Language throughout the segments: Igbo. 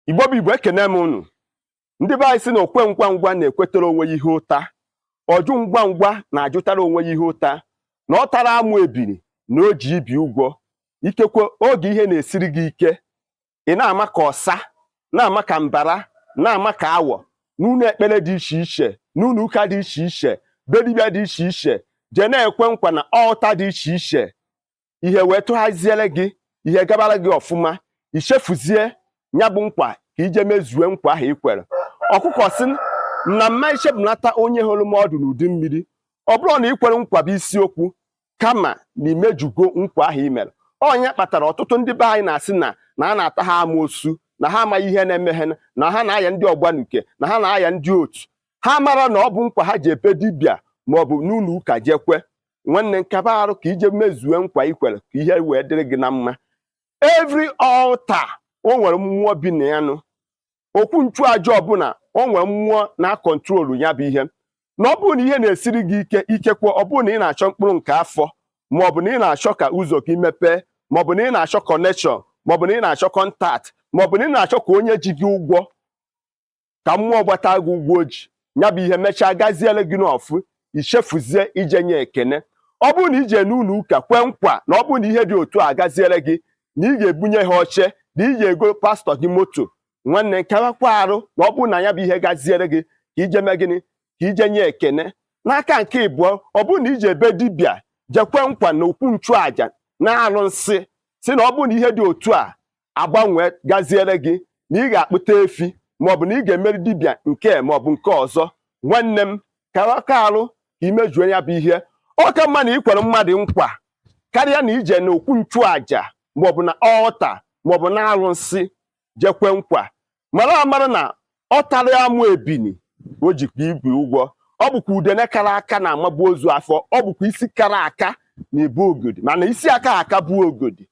igbo bụ igbo ekene m unu ndị be anyị sị na okwe ngwa ngwa na-ekwetara onwe ya ihe ụta ọjụ ngwa ngwa na-ajụtara onwe ya ihe ụta na ọ tara amụ ebiri na o ji ibi ụgwọ ikekwe oge ihe na-esiri gị ike ị na-ama ka ọsa na-ama ka mbara na-ama ka awọ n'ụlọ ekpere dị iche iche n'ụlọ ụka dị iche iche be dibịa dị iche iche jee na-ekwe nkwa na altar dị iche iche ihe wee tụghaziere gị ihe gabara gị ọfụma i chefuzie ya bụ nkwa ka i je mezue nkwa ahụ ị kwere ọkụkọ sị na m ma echefunata onye horo m ọdụ n'udu mmiri ọ bụrọ na ị kwere nkwa bụ isiokwu kama na imejugo nkwa ahụ i mere ọ nya kpatara ọtụtụ ndị be anyị na-asị na na a na-ata ha amoosu na ha amaghị ihe na-eme ha na ha na-aya ndị ọgbanuke na ha na-aya ndị otu ha amarọ na ọ bụ nkwa ha je be dibịa maọbụ n'ụlọ ụka je kwe nwanne m kaba arụ ka i je mezue nkwa i kwere ka ihe wee dịrị gị na mma every altar o nwere mmụọ bi na ya nụ okwu nchụaja ọbụla o nwere mmụọ na-akọntrolu ya bụ ihe na ọ bụrụ na ihe na-esiri gị ike ikekwe ọ bụrụ na ị na-achọ mkpụrụ nke afọ ma ọ bụ na ị na-achọ ka ụzọ gị mepee ma ọ bụ na ị na-achọ connection ma ọ bụ na ị na-achọ contact ma ọ bụ na ị na-achọ ka onye ji gị ụgwọ ka mmụọ gbata gị ụgwọ o ji ya bụ ihe mechaa gaziere gị n'ọfụ i chefuzie ije nye ekene ọ bụrụ na i je n'ụlọ ụka kwee nkwa na ọ bụrụ na ihe dị otu a gaziere gị na ị ga-ebunye ha oche na ị ga-ego pastor gị moto nwanne m kawakwa arụ na ọ bụrụ na ya bụ ihe gaziere gị ka i je mee gịnị ka i je nye ekene n'aka nke ịbụọ ọ bụrụ na i je be dibịa je kwe nkwa na okwu nchụaja na arụsị sị na ọ bụrụ na ihe dị otu a agbanwe gaziere gị na ị ga-akpụta efi maọbụ na ị ga-emere dibịa nke a maọbụ nke ọzọ nwanne m kabakwa arụ ka i mejuo ya bụ ihe ọ ka mma na ị kwere mmadụ nkwa karịa na i je na okwu nchụaja maọbụ na altar maọbụ na arụsị je kwe nkwa mara amara na ọ tara amụ ebini o jikwa ibi ụgwọ ọ bụkwa udene kara aka na-amabu ozu afọ ọ bụkwa isi kara aka na-ebu ogodi mana isi aka aka bu ogodi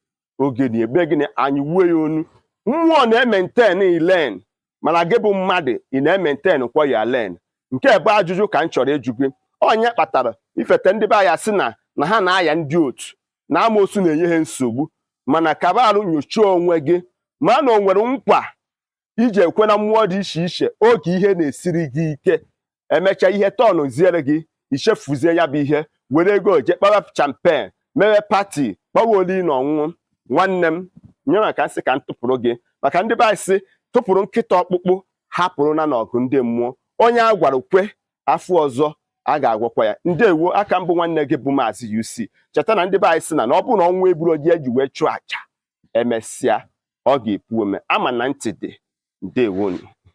ogodi emee gịnị anyịgbuo ya onu mmụọ na-emaintain lane mana gị bụ mmadụ ị na-emaintainkwa your lane nke a bụ ajụjụ ka m chọrọ ịjụ gị ọ nya kpatara ifete ndị be anyị sị na na ha na-aya ndị otu na amoosu na-enye ha nsogbu mana kaba arụ nyochie onwe gị ma na o nwere nkwa i je kwe na mmụọ dị iche iche oge ihe na-esiri gị ike e mechaa ihe turnziere gị i chefuzie ya bụ ihe were ego je kpawa champagne mewe party kpawa oli na ọṅụṅụ nwanne m ya ka m sị ka m tụpụrụ gị maka ndị be anyị sị tụpụrụ nkịta ọkpụkpụ hapụrụ ya n'ọgụ ndị mmụọ onye a gwara kwe afọ ọzọ a ga-agwakwa ya ndewo a ka m bụ nwanne gị bụ maazị UC cheta na ndị be anyị sị na na ọ bụrụ na ọ nwa ebulu oji e ji wee chụọ aja emesịa ọ ga-epu ome ama na ntị dị ndewonu